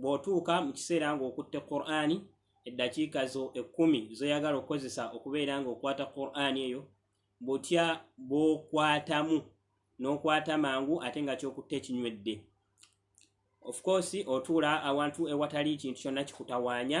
bw'otuuka mu kiseera ng'okutte qur'ani eddakiika zo ekkumi zoyagala okukozesa okubeera ng'okwata qur'ani eyo butya bw'okwatamu n'okwata mangu ate nga kyokutte ekinywedde ofcourse otuula awantu ewatali ekintu kyonna kikutawaanya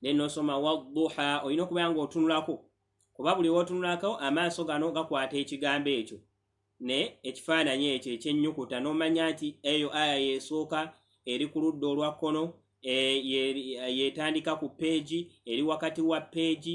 naye nosoma wadduha olina okubeera nga otunulako kuba buli wotunulako amaaso gano gakwata ekigambo ekyo ne ekifaananyi ekyo ekyenyukuta nomanya nti eyo aya yesooka eri ku ludda olwa kkono e, yetandika ku peegi eri wakati wa peegi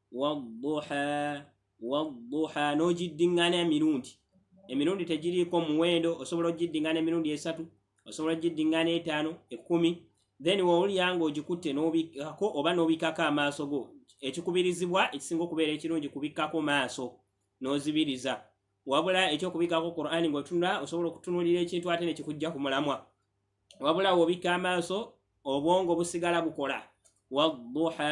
wadduha wadduha n'ogiddingana emirundi emirundi tegiriiko muwendo osobola ogiddingana emirundi esatu osobola ogiddingana etaano ekkumi then wowulira nga ogikutte n'obikkako oba n'obikkako amaaso go ekikubirizibwa ekisinga okubeera ekirungi kubikkako maaso n'ozibiriza wabula ekyokubikako qurani ngaotunula osobola okutunulira ekintu ate nekikujja ku mulamwa wabula wobikka amaaso obwongo busigala bukola waduha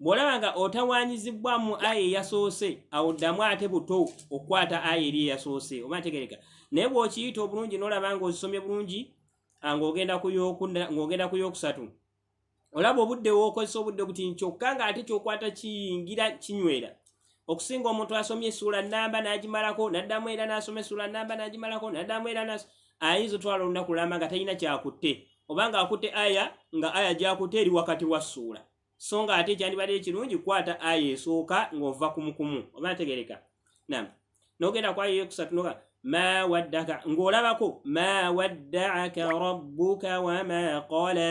bw'olaba nga otawaanyizibbwamu aya eyasoose awo ddamu ate buto okukwata aya eri eyasoose oba ntegereka naye bw'okiyita obulungi n'olaba nga ozisomye bulungi ng'ogenda ng'ogenda ku yokusatu olaba obudde wookozesa obudde buti kyokka ng'ate kyokwata kiyingira kinywera okusinga omuntu asomye essuula namba n'agimalako n'addamu era n'asoma essuula namba n'agimalako n'addamu era nas ayinza otwala olunaku lulamba nga talina kyakutte oba nga akutte aya nga aya gyakutte eri wakati wa ssuula so nga ate kyandibadde ekirungi kukwata aya esooka ng'ova kumukumu oba ntegereka nam nogenda kwayo eyokusatu noga ma waddaka ng'olabako ma waddaaka rabbuka wama qala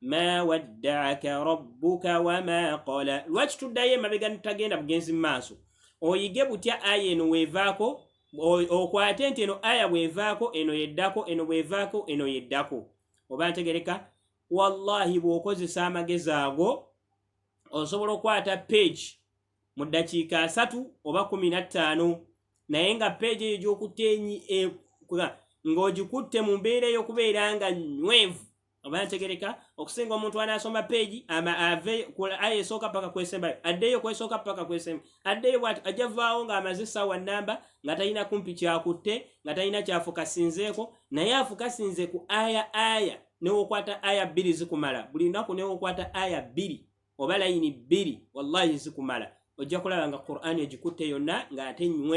ma waddaaka rabbuka wama qala lwaki tuddayo emabega nitutagenda bugenzi mu maaso oyige butya aya eno weevaako okwate nti eno aya bwevaako eno yeddako eno bwevaako eno yeddako oba ntegereka wallahi bw'okozesa amagezi ago osobola okukwata page mu ddakiika asatu oba kumi na ttaano naye nga page eyo gy'okutte e, ng'ogikutte mu mbeera ey'okubeera nga nywevu oba ntegereka okusinga omuntu anasoma peegi ave aya esooka paka kwesembayo addeyo kwesooka paka kwesemba addeyo bwati ajja vaawo ng'amaze essaawa namba nga talina kumpi kyakutte nga talina kyafukasinzeeko naye afukasinze ku aya aya newokwata aya bbiri zikumala buli lunaku newokwata aya bbiri oba layini bbiri wallahi zikumala ojja kulaba nga qur'ani egikutte yonna ng'ate nywe